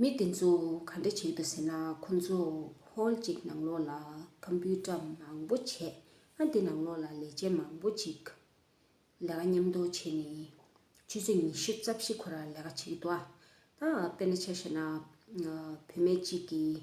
མི་དེ་ཚོ་ག་འདྲ་བྱེད་འདུག་ཟེར་ན་ཁོ་ཚོ་ཧོལ་གཅིག་ནང་ལོགས་ལ་ཁམ་བུའི་སྐྲ་མང་པོ་བྱས་ཨ་འདི་ནང་ལོགས་ལ་ལས་བྱེད་མང་པོ་གཅིག་ལས་ཀ་མཉམ་དུ་བྱས་ནས་ཆུ་ཚོད་ཉི་ཤུ་རྩ་བཞི་འཁོར་ར་ལས་ཀ་བྱེད་ཀྱི་འདུག་ཨ་དཔེར་ན་ཆ་བཤད་ན་བུད་མེད་གཅིག་གིས།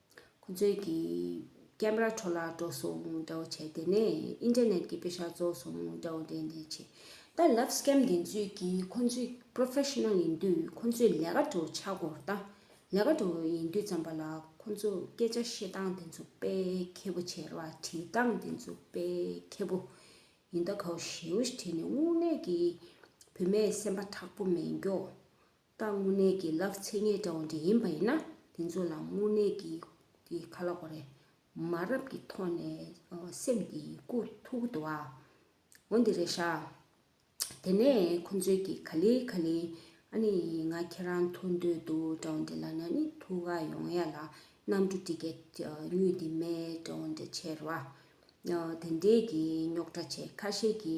ཁོ་ཚོས་ཀྱིས། ཀེམ་ར་འཕྲོ་བརླག་འགྲོ་སོང་འདྲ་བོ་བྱས་དེ་ནས་ཨིན་ཏེར་ནེད་ཀྱི་དཔེ་ཤག་རྫོགས་སོང་འདྲ་བོ་འདེད་འདེད་བྱས། ད་ལབ་སྐེམ་འདི་ཚོས་ཀྱིས་ཁོ་ཚོས Professional ཡིན་དུས་ཁོ་ཚོས་ལས་ཀ་འགྲོ་ཆགས་སྒོར་བཏང། ལས་ཀ་འགྲོ་ཡིན་དུས་ཙམ་པ་ལ་ཁོ་ཚོས་སྐད་ཆ་བཤད་སྟངས་འདི་ཚོ་དཔེ་མཁས་པོ་བྱས་ལ་བྲིས་སྟངས་འདི་ཚོ་དཔེ་མཁས་པོ་ཡིན་ད་གའོ་ཞེའུ་ཞེ་བྲིས་ནས་དངུལ་གནས་ཀྱི་བུད་མེད་སེམས་པ་དྲག་པོ་མེད་མགྱོགས། རྟགས་དངོས་གནས་ཀྱི་ལག་ཚེ་ངེས་འདྲ་བ་འདྲ་ཡིན་པ་ཡིན་ན་དེ་ཚོ་ལ་དངོས་གནས་ཀྱི་དེ་ཁ་ལག་པ་རེད། མ་རབས་ཀྱི་ཐོག་ནས་སེམས་དེ་ཀུ་ཐུག་གི་འདུག་ཨ། འོན་ཏེ་རེད་ཤག། དེ་ནས་ཁོ་ཚོས་ཀྱི་ག་ལེ་ག་ལེ་ཨ་ནི་ང་ཁྱེད་རང་ཐུག་འདོད་འདུག་འདྲ་བ་འདི་ལ་ན་ནི་ཐུག་ག་ཡོང་ཡ་ལ་གནམ་གྲུ་འདི་གས་ཉུལ་འདི་མེད་འདྲ་བ་འདྲ་བྱས་ར་བ། དེ་འདྲས་ཀྱི་རྙོག་དྲ་ཆེ་ཁ་ཤས་ཀྱི་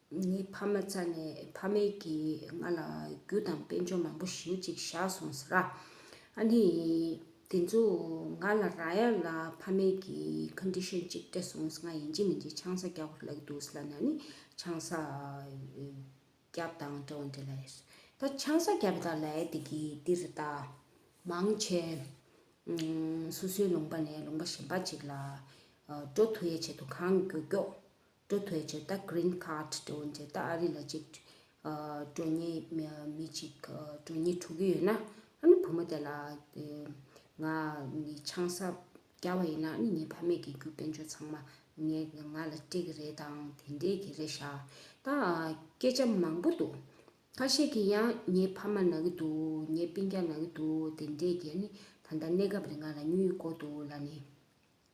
ངའི་ཕ་མ་རྩ་ནས་ཕ་མེས་ཀྱིས་ང་ལ་རྒྱུ་དང་དཔལ་འབྱོར་མང་པོ་ཞིའུ་ཅིག་བཞག་སོང་ཟེར། ཨ་ནི། དེ་ཚོ་ང་ལ་ར་ཡ་ལ་ཕ་མེས་ཀྱིས Condition ཅིག་སྤྲད་སོང་ང་ཡིན་གཅིག་མིན་གཅིག་ཆང་ས་རྒྱག་པར་ལག་འདུག་ལ་ན་ནི་ཆང་ས་བརྒྱབ་དང་འདྲ་བ་འདྲ་ལ་ཡོད། ད་ཆང་ས་བརྒྱབ་པ་དང་ལ་ཡ་དེ་གིས་འདིར་ལྟ། མང་ཆེ། སོ་སོའི་ལུང་པ་ནས་ལུང་པ་གཞན་པ་ཅིག་ལ་འགྲོ་ཐུ་ཡ་བྱེད་དུ་གང་མགྱོགས་མགྱོགས་འགྲོ་ཐོས་རྗེས་ད Green Card འགྲོ་འོང་རྗེས་ད་ཨ་རི་ལ་གཅིག་འགྲོ་གཉིས་མི་གཅིག་འགྲོ་གཉིས་འགྲོ་གི་ཡོད་ན་ཨ་ནི་བུ་མོ་དེ་ལ་ང་ནི་ཆང་ས་རྒྱ་བ་ཡིན་ན་ཨ་ནི་ངའི་ཕ་མེས་ཀྱི་རྒྱུ་དཔོན་ཆུང་ཚང་མ་ངའི་ང་ལ་སྤྲད་གི་རེད་དང་དེ་འད་གི་རེད་ཤག་ད་སྐད་ཆ་མང་པོ་འདུག་ཁ་ཤས་ཀྱི་ཡང་ངའི་ཕ་མ་ན་གི་འདུག་ངའི་སྤིན་རྒྱ་ན་གི་འདུག་དེ་འད་གི་ཨ་ནི་ད་ལྟ་གནས་སྐབས་རེད་ང་ལ་སྨྱུ་ཡིག་བཀོ་འདུག་ལ་ནི།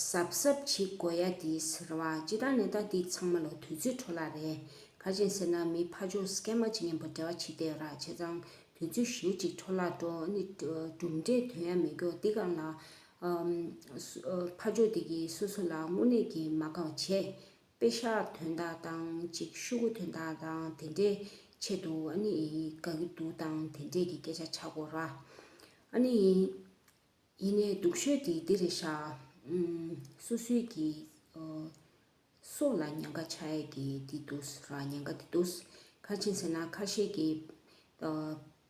གཟབ་གཟབ་བྱེད་དགོས་ཡ་དེས་རེད་བ་སྤྱི་བཏང་ནད་རྟགས་འདི་ཚང་མ་ལ་དུས་ཚོད་འཕྲོ་བརླག་རེད་ཁ་ཆེན་ཟེར་ན་མི་ཕ་ཆོག་སྐད་མ་བྱེད་ངན་པ་འདྲ་བ་བྱེད་བསྡད་ར་བྱས་ཙང་དུས་ཚོད་བཞུར་ཅིག་འཕྲོ་བརླག་འགྲོ་ནི་གྲུབ་འབྲས་དོན་ཡ་མི་འགྱོག་འདི་གང་ལ་ཕ་ཆོག་འདི་གི་སོ་སོ་ལ་དངོས་གནས་ཀྱི་མ་དགའ་བ་བྱས་དཔེ་ཤག་དོན་དག་དང་ཅིག་ཤུ་གུ་དོན་དག་དང་དེ་འདྲས་ཆེད་དུ་ཨ་ནི་ཡིན་དགའ་གི་འདུག་དང་དེ་འདྲས་ཀྱི་སྐད་ཆ་བྱ་དགོས་ར་ཨ་ནི་ཡིན། ཡིན་ནའི་འདུག་ཤོད་ཀྱིས་འདི་རེ་བཞག། སུ་སུས་ཀྱི། སུ་ལ་ཉན་ཁ་ཆ་ཡས་ཀྱི་འདི་འདུག་ཟེར་བ་ཉན་ཁ་འདི་འདུག། ཁ་ཆེ་ཟེར་ན་ཁ་ཤས་ཀྱི།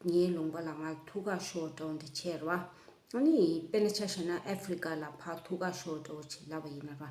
ངའི་ལུང་པ་ལ་ང་ཐུགས་ཁག་ཤོར་འདྲ་བོ་འདི་བྱས་ར་བ། ཨ་ནི་དཔེར་ན་ཆ་བཞག་ན་ཨ་ཧྥེ་རི་ཀ་ལ་ཕ་ཐུགས་ཁག་ཤོར་འདྲ་བོ་བྱེད་སླ་བ་ཡིན་ར་བ།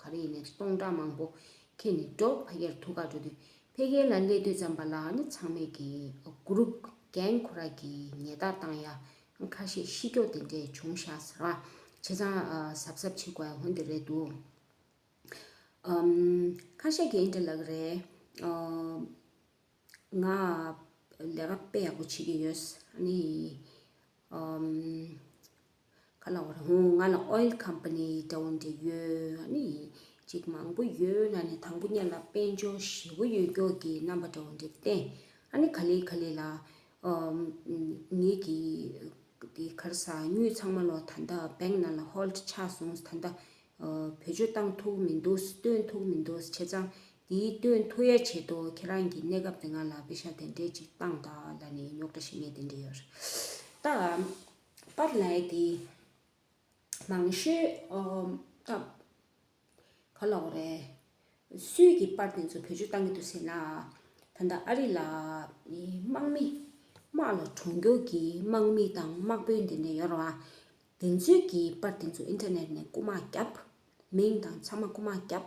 ག་རེ་ཡིན་ནས་སྟོང་ཕྲག་མང་པོ་ཁྱེར་ནས་འགྲོ་ཕ་གྱར་ཐུག་ག་འགྲོ་དུས་ཕལ་སྐད་ལ་ཀླད་དུས་ཙམ་པ་ལ་ནི་ཚང་མས་ཀྱི Group Gang ཁོ་ར་གྱི་ཉེ་བརྡ་བཏང་ཡ་ཁ་ཤས་ཤི་ཀྱོག་དེ་འདྲས་བྱུང་ཤ་ཟ་ར་བྱེད་ཚང་ཟབ་ཟབ་བྱེད་དགོས་ཡ་ཧོན་དེ་རེད་འདུག་ཁ་ཤས་ཀྱི་ཨིན་དྲ་ལ་གི་རེད་ང་ལས་ཀ་དཔེ་ཡག་པོ་བྱེད་ཀྱི་ཡོད་ཨ་ནི་ག་ལ་བར་ཧུང་ང་ལ oil company འདྲ་བོ་འདྲ་ཡོད་ནི་ཅིག་མང་པོ་ཡོད་ལ་ནི་དང་པོ་གཉེར་ལ་དཔལ་འབྱོར་ཞེ་བོ་ཡོད་མགྱོགས་ཀྱི་རྣམ་པ་འདྲ་བོ་འདྲ་བསྟན་ཨ་ནི་ག་ལེ་ག་ལེ་ལ་ངེད་ཀྱི་གི་གར་ཟ་སྙུས་ཚང་མ་ལོ་ད་ལྟ bank ནང་ལ hold ཆགས་སོང་ད་ལྟ་བེད་སྤྱོད་བཏང་ཐུག་མི་འདུག་སྟོན་ཐུག་མི་འདུག་བྱས་ཙང་འདིའི་སྟོན་ཐུག་ཡ་བྱེད་དོ་ཁྱེད་རང་གི་གནས་སྐབས་དེ་ང་ལ་བེ་ཤ་དེ་འདྲས་ཅིག་བཏང་ད་ལ་ནི་ཉོག་དྲ་ཞེ་མེད་དེ་འདྲས་ཡོད་རེད་ད། པར་ལས་ཀྱི་མང་ཤོས་སྐབས་ག་ལ་བ་རེད། སུས་ཀྱིས་པར་དེ་ཚོ་བོད་ཆུ་བཏང་གི་འདུག་ཟེར་ན། ད་ལྟ་ཨ་རི་ལ་དམག་མི་དམག་ལ་གྲོང་འགྱུར་གྱི་དམག་མི་དང་དམག་དཔོན་དེ་འདྲ་ཡོད་རུང། དེ་ཚོས་ཀྱིས་པར་དེ་ཚོ་ཨིན་ཐེར་ནེད་ནས་རྐུ་མ་བརྒྱབ། མིང་དང་ཚང་མ་རྐུ་མ་བརྒྱབ།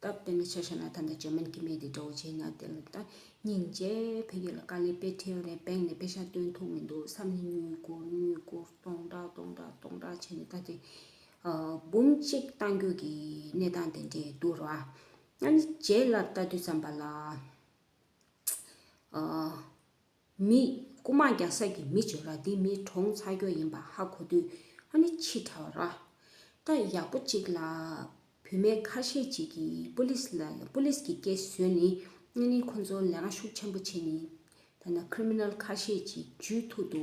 སྟབས་དེ་ནི་ཆ་ཤས་ན་ད་ལྟ་ཇར་མན་གྱི་མི་དེ་འདྲ་བོ་བྱས་ན་དེ་ལ་ད་སྙིང་རྗེ་བོ་ཡོད་ལ་དཀའ་ལས་དཔེ་ཁྲེའུ་རེ་སྦེང་ནས་དཔེ་ཤ་སྟོན་ཐུབ་མི་འདུག་བསམ་ནས་མྱུལ་སྐོར་མྱུལ་སྐོར་སྟོང་ཕྲག་སྟོང་ཕྲག་སྟོང་ཕྲག་བྱས་ནས་ད་དེ་འབུམ་གཅིག་བཏང་རྒྱུ་གི་གནས་སྟངས་དེ་འདྲས་འདུག་ར་ང་ནི་རྗེ་ལ་བལྟ་དུས་བསམ་པ་ལ། མི། རྐུ་མ་རྒྱག་ས་ཀྱི་མི་བྱོས་ར་འདི་མི་གྲོངས་ཚར་རྒྱོ་ཡིན་པ་ཧ་གོ་དུས་ཨ་ནི་ཕྱི་དྲ་བ་ར། ད་ཡག་པོ་ཅིག་ལ་བུད་མེད་ཁ་ཤས་ཅིག་གིས་པུ་ལིས་ལ་པུ་ལིས་ཀྱི་སྐད་བཟོས་ནི་ཨ་ནི་ཁོ་ཚོ་ལས་ཀ་ཤུགས་ཆེན་པོ་བྱེད་ནི་ད་ན་ཁྲི་མི་ནལ་ཁ་ཤས་ཅིག་ཇུས་ཐུག་ཏུ་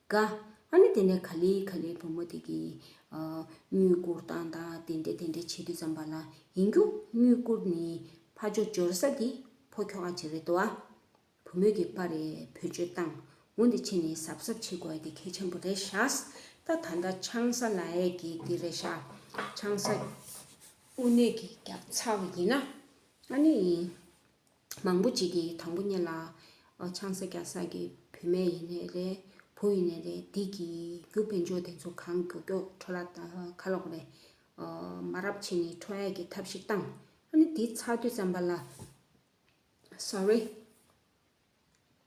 ཀ། ཨ་ནི་དེ་ནས་ག་ལི་ག་ལིའི་བུ་མོ་དེ་གིས། སྨྱུ་གུར་དང་དང་དེ་འདྲ་དེ་འདྲ་བྱེད་དུས་བརྩམས་པ་ལ་ཡིན་རྒྱུ། སྨྱུ་གུར་ནི་ཕ་ཅོ་འབྱོར་ས་ཀྱི་ཕོ་ཁྱོ་ག་ཅིག་རེད་དོ། བུ་མོས་ཀྱི་པ་རེ་བུ་ཅོ་བཏང་ངོ་འདི་ཕྱི་ནས་གཟབ་གཟབ་བྱེད་དགོས་ཀྱི་གལ་ཆེན་པོ་རེད་ཤགས། ད་ད་ད་ཆང་ས་ལ་ཡས་ཀྱི་འདི་རེད་ཤགས། ཆང་ས་དབུ་སྣོད་ཀྱི་རྒྱབ་ཚ་བ་ཡིན་ན། ཨ་ནི། མང་པོ་ཅིག་གིས་དང་པོ་གཉེར་ལ། ཆང་ས་རྒྱག་ས་ཀྱི་བུད་མེད་ཡིན་ནའི་རེད། བུ་ཡིན་ནའི་རེད་འདི་གི་རྒྱུ་དཔེ་འཇོག་དེ་ཚོ་གང་མགྱོགས་མགྱོགས་འཕྲོ་ལ་ཁ་ལོག་རེད། མ་རབས་ཕྱི་ནས་འཕྲོ་ཡས་ཀྱི་ཐབས་ཤིག་བཏང། ཨ་ནི་འདི་ཚགས་དུས་ཙམ་པ་ལ། Sorry།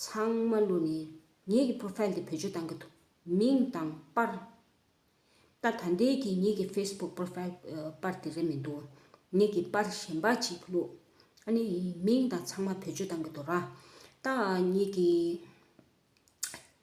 ཚང་མ་བསླུས་ནས་ངེད་ཀྱི Profile དེ་བེད་སྤྱོད་གཏང་གི་འདུག་མིང་དང་པར། ད་ད་འདས་ཀྱི་ངེད་ཀྱི Facebook Profile པར་དེ་རེད་མི་འདུག་ངེད་ཀྱི་པར་གཞན་པ་ཅིག་བསླུས། ཨ་ནི་མིང་དང་ཚང་མ་བེད་སྤྱོད་གཏང་གི་འདུག་ར། ད་ངེད་ཀྱི།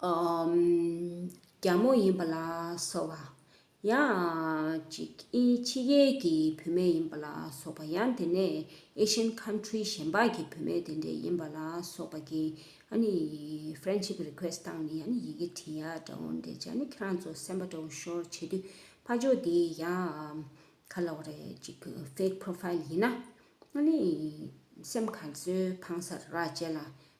རྒྱ་མོ་ཡིན་པ་ལ་སོགས་པ། ཡང་ཅིག་ཕྱི་རྒྱལ་གྱི་བུད་མེད་ཡིན་པ་ལ་སོགས་པ་ཡང་དེ་ནས Asian Country གཞན་པ་གྱི་བུད་མེད་དེ་འདྲས་ཡིན་པ་ལ་སོགས་པ་གིས Friendship Request བཏང་ནས་ཡང་ནི་ཡི་གེ་བྲིས་ཡ་འདྲ་བོ་འདི་ཅག་ནི་ཁྱེད་རང་ཚོ་སེམས་པ་འདྲ་བོ་ཤོར་བྱེད་དུས་ཕ་ཇོ་འདི་ཡང་ཁ་ལོག་རེད་ཅིག Fake Profile ཡིན་ན་ཡང་ནི་སེམས་ག་ཚོད་ཕངས་སར་ར་བཅད་ལ་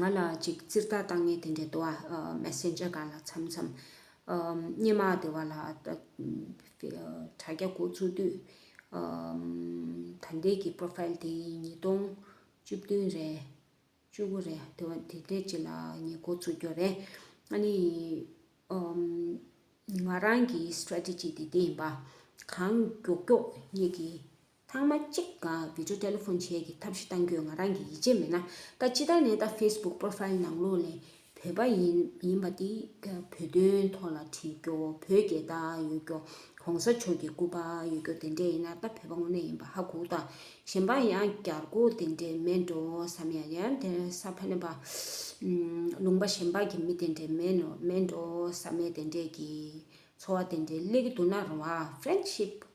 ང་ལ་ཅིག་ཙིར་ད་ལྟ་ངས་དེ་འདྲའི་ཏོ་ཨ Messenger ག་ལ་འཚམ་འཚམ། སྙེ་མ་དེ་བ་ལ་དྲ་རྒྱ་འགོ་བཙུགས་དུས། ད་ལྟའི་གི Profile དེ་ཉིས་སྟོང་བཅུ་བདུན་རེད། བཅུ་དགུ་རེད་དེ་བ་དེ་འདྲའི་ཅིག་ལ་ངས་འགོ་བཙུགས་རྒྱུ་རེད། ཨ་ནི། ང་རང་གི Strategy དེ་འདི་ཡིན་པ། གང་མགྱོགས་མགྱོགས་ངེད་ཀྱི། ཚང་མ་གཅིག་ག Video Telephone བྱས་ཀྱི་ཐབས་ཤེས་གཏང་རྒྱུའི་ང་རང་གི་ཡིད་ཆེས་མེད་ན་ད་ཅི་ད་ནས་ད Facebook Profile ནང་ལོག་ནས་བོད་པ་ཡིན་མིན་པ་འདི་ག་བོད་དོན་ཐོག་ལ་བྲིས་རྒྱོ་བོད་རྒྱལ་ད་ཡོད་རྒྱོ་གོང་ས་མཆོག་གྱི་སྐུ་པ་ཡོད་རྒྱོ་དེ་འདྲས་ཡིན་ན་ད་བོད་པ་དངོས་གནས་ཡིན་པ་ཧ་གོ་ད་གཞན་པ་ཡང་རྒྱར་རྒོ་དེ་འདྲས་མེད་འགྲོ་བསམ་ཡང་ཡང་དེ་ས་ཕ་ནེ་པ་ལུང་པ་གཞན་པ་གྱི་མི་དེ་འདྲས་མེད་ནོ་མེད་འགྲོ་བསམ་མེད་དེ་འདྲས་ཀྱི་འཚོ་བ་དེ་འདྲས་སླེ་གི་འདུག་ན་རང་བ Friendship།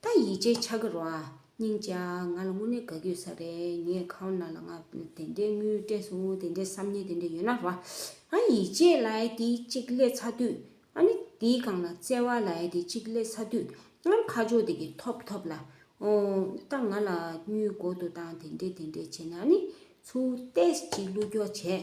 ད་ཡིད་ཆེས་ཆགས་ཀྱི་རོ་ཨ། སྙིང་རྗེ་ཨ། ང་ལ་དངོས་གནས་དགའ་སྐྱོ་ས་རེད། ངས་ཁ་བ་ན་ལ་ང་དེ་འདྲའི་དངུལ་སྤྲད་སོང་དེ་འདྲའི་བསམ་ངན་དེ་འདྲ་ཡོད་ན་རོ་ཨ། ཨ་ཡིད་ཆེས་ལ་ཨའི་དེ་གཅིག་སླེ་ཚ་དུས་ཨ་ནི་དེའི་སྒང་ལ་བརྩེ་བ་ལ་ཨའི་དེ་གཅིག་སླེ་ཚ་དུས་ཨ་ཁ་ཕྱོགས་དེ་གི་ཐོབ་ཐོབ་ལ། ཨོ། ད་ང་ལ་དངུལ་འགོ་ཏུ་བཏང་དེ་འདྲས་དེ་འདྲས་བྱས་ནས་ཨ་ནི་ཚུར་ཏེས་གཅིག་བླུགས་རྒྱོགས་བྱས་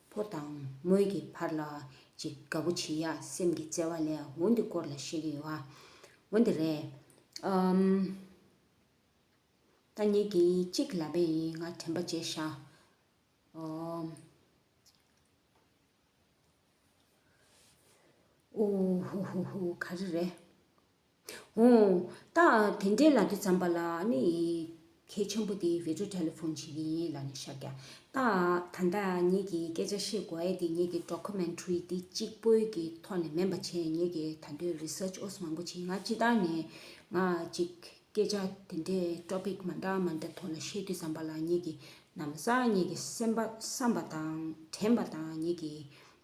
ཕོ་དང་མོའི་གི་བར་ལ་ཅིག་དགའ་པོ་བྱེད་ཡག་སེམས་ཀྱི་བརྩེ་བ་ལས་འོན་འདི་སྐོར་ལ་བཤད་ཀྱི་ཡོད་ཨ། འོན་འདི་རེད། ད་གཉིས་ཀྱི་གཅིག་ལབ་པའི་ཡིན་ང་དྲན་པ་བརྗེད་ཤག་ཨོ། ཧུ་ཧུ་ཧུ་ག་རེ་རེད། ཧོ། ད་དེ་འདྲའི་ལག་ཁྱི་བརྩམས་པ་ལ་ནི། གལ་ཆེན་པོ་དེ་བེ་ཅོ་ཏྲ་ལ་ཕོན་བྱེད་ཀྱི་ཡིན་ལ་ནི་ཤཱཀྱ། ད་ད་ལྟ་ངེད་ཀྱིས་སྐད་ཆ་བཤད་དགོས་ཨེ་དེ་ངེད་ཀྱི Documentary འདི་གཅིག་པོའི་གི་ཐོག་ནས་མིན་པ་བྱས་ངེད་ཀྱི་ད་དུས Research ཨོས་མང་པོ་བྱས་ང་སྤྱི་ལྟར་ནས་ང་གཅིག་སྐད་ཆ་དེ་འདྲའི Topic མ་འདྲ་མ་འདྲ་ཐོག་ལ་བཤད་དུས་བརྩམས་པ་ལ་ངེད་ཀྱི་ནམ་བཟའ་ངེད་ཀྱི་སེམས་པ་བསམས་པ་དང་དྲན་པ་དང་ངེད་ཀྱི་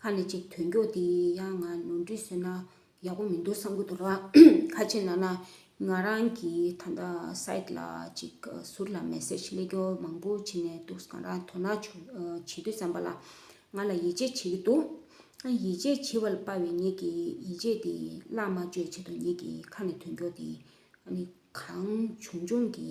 ཁ་ནས་ཅིག་དོན་མགྱོགས་འདི་ཡང་ང་ནོར་འཁྲུལ་བཟོས་ན་ཡག་པོ་མི་འདུག་བསམ་གྱི་འདུག་ཁ་ཅིག་ན་ན་ང་རང་གི་ད་ལྟ site ལ་ཅིག་ཟུར་ལ message སླེབས་རྒྱུ་མང་པོ་བྱས་ནས་འདུག་གང་རང་དོ་སྣང་བྱེད་དུས་བསམ་པ་ལ་ང་ལ་ཡིད་ཆེས་བྱེད་ཀྱི་འདུག་ཡིད་ཆེས་བྱེད་པ་ལ་དཔའ་བའི་ཉིད་ཀྱིས་ཡིད་ཆེས་འདི་བླ་མ་གཅོད་བྱེད་དོ་ཉིད་ཀྱིས་ཁ་ནས་དོན་མགྱོགས་འདི་གང་བྱུང་བྱུང་གི་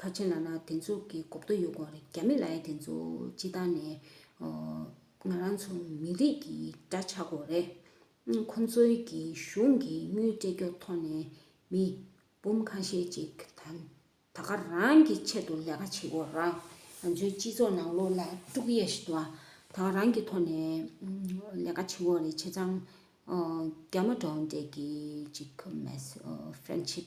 ཁ་ཆེ་ན་ན་དེ་ཚོ་གི་གོ་བརྡ་ཡོད་དགོངས་རེད་རྒྱ་མི་ལའི་དེ་ཚོ་སྤྱི་བཏང་ནས་ང་རང་ཚོ་མི་རིགས་ཀྱི་དགྲ་ཆགས་དགོས་རེད་ཁོ་ཚོའི་གི་གཞུང་གི་དངུལ་སྤྲད་རྒྱོ་ཐོག་ནས་མི་འབུམ་ཁ་ཤས་ཅིག་དང་ད་ག་རང་གི་ཆེད་དུ་ལས་ཀ་བྱེད་དགོས་རང་ང་ཚོའི་སྤྱི་ཚོགས་ནང་ལོ་ལ་དཀྲུག་གཡས་བཞི་དུ་ད་ག་རང་གི་ཐོག་ནས་ལས་ཀ་བྱེད་དགོས་རེད་བྱས་ཙང་རྒྱ་མ་གྲོངས་འདྲེས་གི་ཅིག་མེད་ཕྲན་ཕྱིས།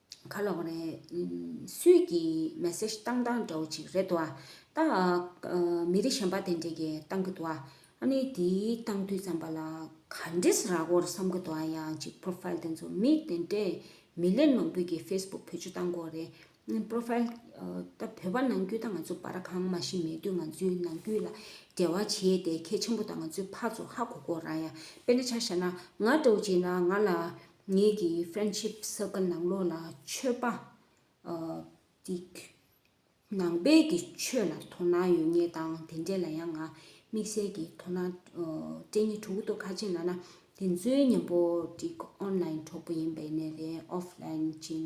ག་ལོག་རེད། སུས་ཀྱིས message བཏང་བཏང་འདྲ་བོ་ཅིག་རེད་དོ། ད་མི་རིགས་གཞན་པ་དེ་འདྲས་ཀྱིས་བཏང་གི་འདུག་ཨ། ཨ་ནི་དེའི་བཏང་དུས་ཙམ་པ་ལ་ག་འདྲས་རག་གོ་ར་བསམ་གི་འདུག་ཨ་ཡང་ཅིག profile དེ་ཚོ་མི་དེ་འདྲས་མི་ལས་མང་པོས་ཀྱིས facebook བོད་ཆུ་བཏང་གོ་རེད། profile ད་བོད་པ་ནང་རྒྱུད་ད་ང་ཚོ་བར་གང་མ་ཤི་མེད་དུས་ང་ཚོའི་ནང་རྒྱུད་ལ་འབྲེལ་བ་བྱས་ཏེ་ཁྱེད་ཆེན་པོ་དང་ང་ཚོའི་ཕ་ཚོ་ཧ་གོ་གོ་ར་ཡང་དཔེ་ན་ཆ་བཞག་ན་ང་འདྲ་བོ་ཅིག་ན་ང་ལ་ངེད་ཀྱི Friendship Circle ནང་ལོགས་ལ་ཆོས་པ། ཏིག། ནང་པའི་ཀྱི་ཆོས་ལ་དོ་སྣང་ཡོད་ངེས་དང་དེ་འབྲེལ་ལ་ཡང་ང་དམིགས་བསལ་གྱི་དོ་སྣང་སྤྲད་ངེས་དྲུག་ཏུ་ཁ་ཆེམས་ལ་ན་དེ་ཚོའི་མཉམ་པོ་ཏིག Online གྲོགས་པོ་ཡིན་པའི་གནས་ལས Offline ཅིང་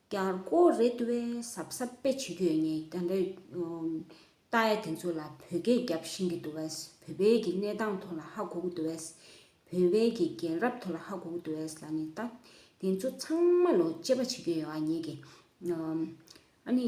ཀྱང་རྐོ་རེད་བས་གཟབ་གཟབ་དཔེ་བྱེད་རྒྱུ་ཡོད་ངེས་ཀྱང་འདྲ། རྟ་ཡ་དེ་ཚོ་ལ་བོད་སྐད་རྒྱབ་བཞིན་གྱི་འདུག་བས་བོད་པའི་གི་གནས་སྟངས་ཐོག་ལ་ཧ་གོ་གི་འདུག་བས། བོད་པའི་གི་རྒན་རབས་ཐོག་ལ་ཧ་གོ་གི་འདུག་བས་ལ་ནི་རྟ་དེ་ཚོ་ཚང་མ་ལོ་དཔྱད་པ་བྱེད་རྒྱུ་ཡོད་ངེས་ཀྱི། ཨ་ནི།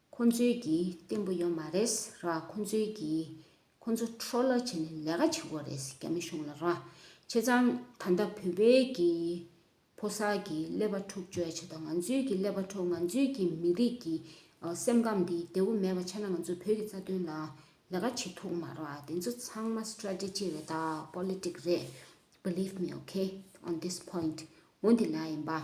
ཁོ་ཚོའི་གི་བརྟན་པོ་ཡོད་མ་རེད་ར་ཁོ་ཚོའི་གི་ཁོ་ཚོ་འཕྲོ་བརླག་བྱེད་ནས་ལས་ཀ་བྱེད་དགོས་རེད་རྒྱ་མི་གཞུང་ལ་ར་བྱས་ཙང་ད་ལྟ་བོད་པའི་གི་ཕོ་གསར་གི་ཀླད་པ་འཁྲུག་བཅོས་བྱས་ད་ང་ཚོའི་གི་ཀླད་པ་འཁྲུག་ང་ཚོའི་གི་མི་རིགས་གི་སེམས་ཁམས་འདི་བདེ་བོ་མེད་པ་བྱས་ན་ང་ཚོ་བོད་གི་རྩ་དོན་ལ་ལས་ཀ་བྱེད་ཐུག་མ་ར་དེ་ཚོ་ཚང་མ strategy རེད་ད politics རེད believe me okay on this point འོ་འདི་ལ་ཡིན་པ།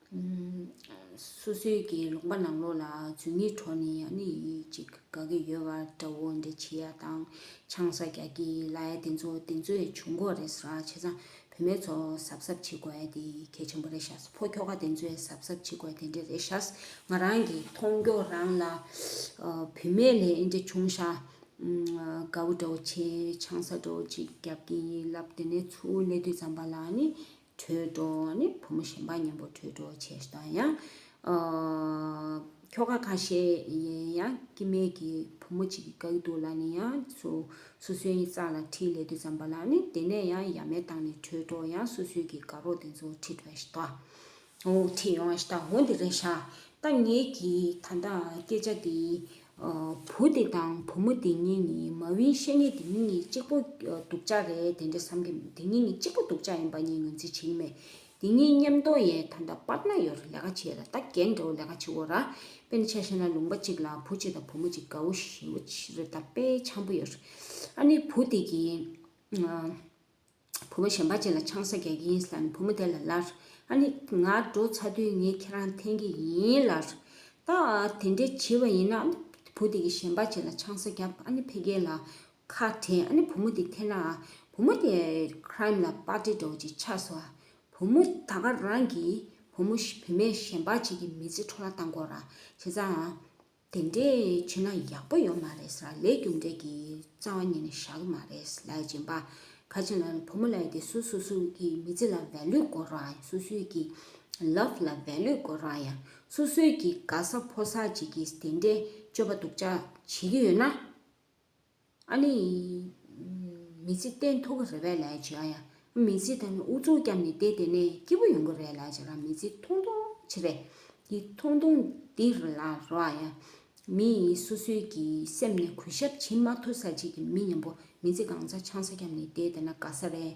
སོ་སོའི་གི་ལོག་པ་ནང་ལོག་ལ་བརྫུན་གྱི་གྲོགས་ནི་ཡང་ནི་ཡིད་ཅིག་དགའ་གི་ཡོད་བ་འདྲ་བོ་འདི་བྱི་ཡ་དང་ཆང་ས་རྒྱག་གི་ལ་ཡ་དེ་ཚོ་དེ་ཚོའི་བྱུང་ཁོག་རེད་ས་བྱས་ཙང་བུད་མེད་ཚོ་གཟབ་གཟབ་བྱེད་དགོས་འདི་གལ་ཆེན་པོ་རེད་ཤ་ས་ཕོ་ཁྱོ་ག་དེ་ཚོའི་གཟབ་གཟབ་བྱེད་དགོས་དེ་འདྲ་རེད་ཤ་ས་ང་རང་གི་མཐོང་སྐྱོ་རང་ལ་བུད་མེད་ལས་ཨེ་འདྲ་བྱུང་ཤ་དགའ་བོ་འདྲ་བོ་བྱས་ཆང་ས་འདྲ་བོ་ཅིག་རྒྱབ་གི་ལབ་དེ་ནས་ཚུར་གནས་དུས་ཙམ་པ་ལ་ནི་དྲོད་གྲོགས་ནི་བུ་མོ་གཞན་པ་མཉམ་པོ་དྲོད་གྲོགས་བྱེད་ཞེས་དང་ཡང། ཁྱོ་ག་གང་ཤེས་ཡིན་ཡང་སྐྱེ་མེད་ཀྱི་བུ་མོ་གཅིག་གི་བཀའ་ཡི་དུག་ལ་ནི་ཡང་སུ་སུ་སོའི་ཡི་ཙག་ལ་ཁྲིའི་ལས་དུ་བརྩམས་པ་ལ་ནི་དེ་ནས་ཡང་ཡ་མེད་བཏང་ནས་དྲོད་གྲོགས་ཡང་སུ་སུའི་གི་དགའ་རོགས་དེ་ཚོ་ཁྲིད་ཡོང་ཞེས་དང་འོ་འོ་ཁྲིད་ཡོང་ཞེས་དང་འོ་འདི་རེད་ཤག་ད་ངེད་ཀྱིས་ད་ལྟའང་སྐད་ཆ་འདི་བུ་དེ་དང་བུ་མོ་དེ་གཉིས་ནི་མ་ཝིའི་བཤེས་གཉེན་དེ་གཉིས་གཉིས་གཅིག་པོ་སྡུག་ཅག་རེད་དེ་འདྲ་བསམ་གྱི་དེ་གཉིས་གཉིས་གཅིག་པོ་སྡུག་ཅག་ཡིན་པ་གཉིས་ངོས་འཛིན་བྱེད་ཀྱི་མེད། དེ་གཉིས་མཉམ་གཏོང་ཡས་ད་ད་པར་ན་ཡོ་ར་ལས་ཀ་བྱེད་ལ་ད་རྒན་འདྲ་བོ་ལས་ཀ་བྱེད་འོ་ར་དཔེ་ན་ཆ་ཤས་ན་ལུང་པ་གཅིག་ལ་བུ་གཅིག་དང་བུ་མོ་གཅིག་དགའ་བོ་ཞེ་བོ་རེད་ད་དཔེ་ཆམ་པོ་ཡོ་ར་ཨ་ནི་བུ་དེ་གཉིས་བུ་མོ་གཞན་པ་གཅིག་ལ་ཆང་ས་རྒྱག་གི་ཡིན་ཟེར་ནས་བུ་མོ་དེ་ལ་ལར། ཨ་ནི། ང་འགྲོ་ཚར་དུས་ངས་ཁྱེད་རང་འཐེན་གི་ཡིན་ལར། ད་དེ་འདྲའི་བྱིས་པ་ཡིན་ན། ཨ་ནི། བུ་དེ་གིས་གཞན་པ་གཅིག་ལ་ཆང་ས་བརྒྱབ་ཨ་ནི་ཕེ་གེ་ལ། ཁ་དྲན་ཨ་ནི་བུ་མོ་དེ་འཐེན་ན། བུ་མོ་དེ། Crime། ལ་པར་ཏི་འགྲོ་བ་ཅིག་ཆགས་སོ། བུ་མོ་ད་ག་རང་གིས། བུ་མོ་བུ་མོས་གཞན་པ་གཅིག་གི་མི་ཚེ་འཕྲོ་བརླག་བཏང་དགོ་ར། བྱས་ཙང། དེ་འདྲས་བྱེད་ན་ཡག་པོ་ཡོད་མ་རེད་ས་ལས་རྒྱུ་འབྲས་ཀྱི་རྩ་བ་ཉིད་ནས་བཞག་གི་མ་རེད་ས་ལས་སྦྱིན་པ་ག་ཅིག་ལ་ནི་བུ་མོ་ལས་དེ་སུ་སུ་སུ་ཀྱི་མི་ཚེ་ལ value དགོ་རོགས་ཨ་ཡ་སུ་སུ་ཀྱི love ལ value དགོ་རོགས་ཨ་ཡ་སུ་སུ་ཀྱི་དགའ་ས་ཕོ་ས་བྱེད་ཀྱི་དེ་འདྲས་སྤྱོད་པ་སྡུག་ཅག་བྱེད་ཀྱི་ཡོད་ན། ཨ་ལི། མི་ཚེ་བརྟན་ཐུབ་ཀྱི་རེད་བས་ལས་བྱོས་ཨ་ཡ། མི་ཚེ་ད་ནི་ཨུ་ཚུགས་བསྐྱབས་ནས་བསྡད་དེ་ནས་སྐྱིད་པོ་ཡོང་གི་རེད་ལས་བྱས་ལ་མི་ཚེ་ཐུང་ཐུང་བྱེད་པས། འདི་ཐུང་ཐུང་འདི་རུ་ལ་རོ་ཨ་ཡ། མི་སུ་སུ་ཀྱི་སེམས་ནས་གུས་ཞབས་བྱེད་མ་ཐུབ་ས་ཅིག་གི་མི་ཉམས་པོ་མི་ཚེ་གང་ཚ་ཆང་ས་བསྐྱབས་ནས་བསྡད་དེ་ན་དགའ་ས་རེད།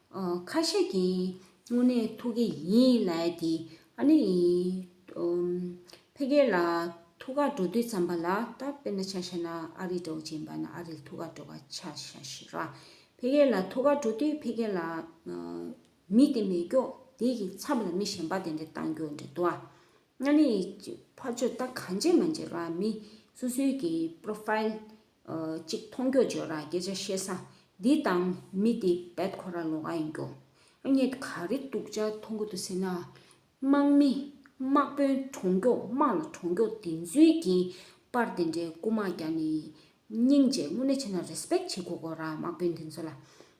ཁ་ཤས་ཀྱིས་དངོས་གནས་ཐུགས་ཀྱི་ཡིན་ལས་ཀྱི་ཨ་ནི་ཕེ་ཁེ་ལ་ཐུགས་ཁ་འགྲོ་དུས་ཙམ་པ་ལ་ད་དཔེར་ན་ཆ་ཤས་ན་ཨ་རི་འགྲོ་བཞིན་པ་ན་ཨ་རིལ་ཐུགས་ཁ་འགྲོ་བ་ཆ་ཤས་ཤིག་ར་ཕེ་ཁེ་ལ་ཐུགས་ཁ་འགྲོ་དུས་ཕེ་ཁེ་ལ་མི་དེ་མེད་སྐྱོག་དེ་ཡི་ཚབ་ལ་མི་གཞན་པ་དེ་འདྲ་བཏང་རྒྱུ་འདྲ་འདུག་ཨ་ནི་ཕ་ཆོས་ད་གང་བྱེད་མ་བྱེད་ར་མི་སུ་སུའི་གི་པྲོ་ཕཱིལ། གཅིག་མཐོང་སྐྱོ་བརྗོད་ར་སྐད་ཆ་བཤད་ས་འདི་དང་མི་འདི་བེད་ཁོ་ར་ལོ་ག་ཡིན་སྐྱོ། ཨ་མྱེས་ག་རེ་སྡུག་ཅག་མཐོང་གི་འདུག་ཟེར་ན། དམག་མི་དམག་དཔོན་གྲོང་སྐྱོ་དམག་ལ་གྲོང་སྐྱོ་དེ་ཚུལ་གྱིས་པར་དེ་འདྲའི་རྐུ་དམག་རྒྱ་ནི་སྙིང་རྗེ་དངོས་གནས་ཆེ་ན་རེ་སྤེག་བྱེད་དགོས་གོ་ར་དམག་དཔོན་དེ་ཚོ་ལ།